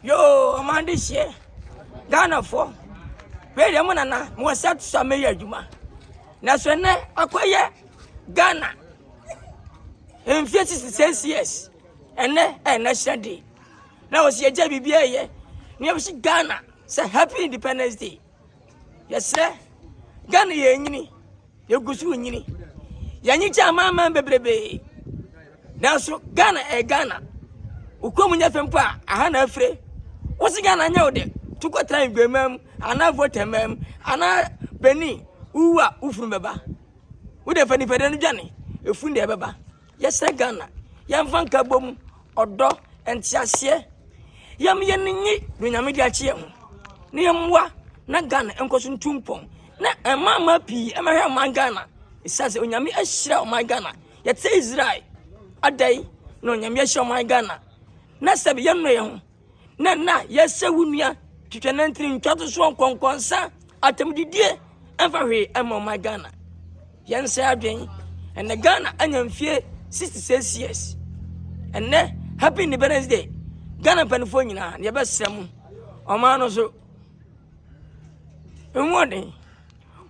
Yoo ɔmo adehyeɛ Ghanafoɔ wei deɛ mo nana mo wɔ set so a mɛyɛ adwuma nanso ɛnɛ akɔyɛ Ghana mfie sisi six years ɛnɛ ɛyɛ national day na wɔsi yɛgya biribi ɛyɛ nea wɔsi Ghana sɛ happy independence day. Yɛsrɛ, Ghana yɛrenyini, yɛgu so renyini. Yɛnye kyɛ amanaman bebrebee. Nanso Ghana ɛyɛ eh, Ghana. Wokɔ mu nyɛ fɛ mpo a, aha na afire. Wose Ghana nyɛ wo dɛ, to kɔtra Nguema mu, anaa Votɛma mu, anaa Benin, wowu a, wo funu bɛba. Wode fa nipadua no dwane, efunu deɛ ɛbɛba. Yɛsrɛ Ghana, yɛmfa nkabom, ɔdɔ, nteaseɛ, yɛm yɛn nyi do Nyame de akye yɛn ho, na yɛmmoa na Ghana nkɔ so ntu mpɔn, na ɛma ama pii ɛmɛhwɛ ɔman Ghana, ɛsiane sɛ Onyame ahyira ɔman Ghana, yɛte Israel, adɛn na Onyame ahyira ɔman Ghana, na sɛbi yɛnnɔ yɛn ho. na na yɛsɛ wo nua twitwa nantini ntwatosoɔ nkɔnkɔnsa atamdidie ɛmfa hwee ɛma ɔman ghana yɛnsɛ adwen ɛnɛ ghana anya mfie 66 years ɛnɛ happy independence day ghana mpanimfoɔ nyinaa na yɛbɛsrɛ mu ɔman no so mmɔden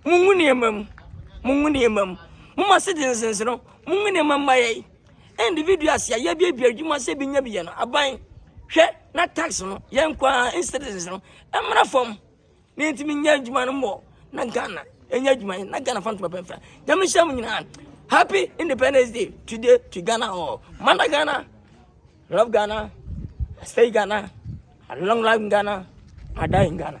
mungu nneɛma mu mungu nneɛma mu moma citizens no mungu nneɛma mma yɛn Individuals a yɛaduadua adwuma sɛ bi nya bi yɛ no, aban hwɛ na tax no yɛn nko ara citizens no mmra fam na yɛntumi nya adwuma no mmɔ na Ghana ɛnyɛ adwuma yɛ na Ghana fa ntoma pɛmfra nyame hyɛ mu nyinaa happy independence day today to Ghana all mana Ghana love Ghana stay Ghana long life in Ghana I die in Ghana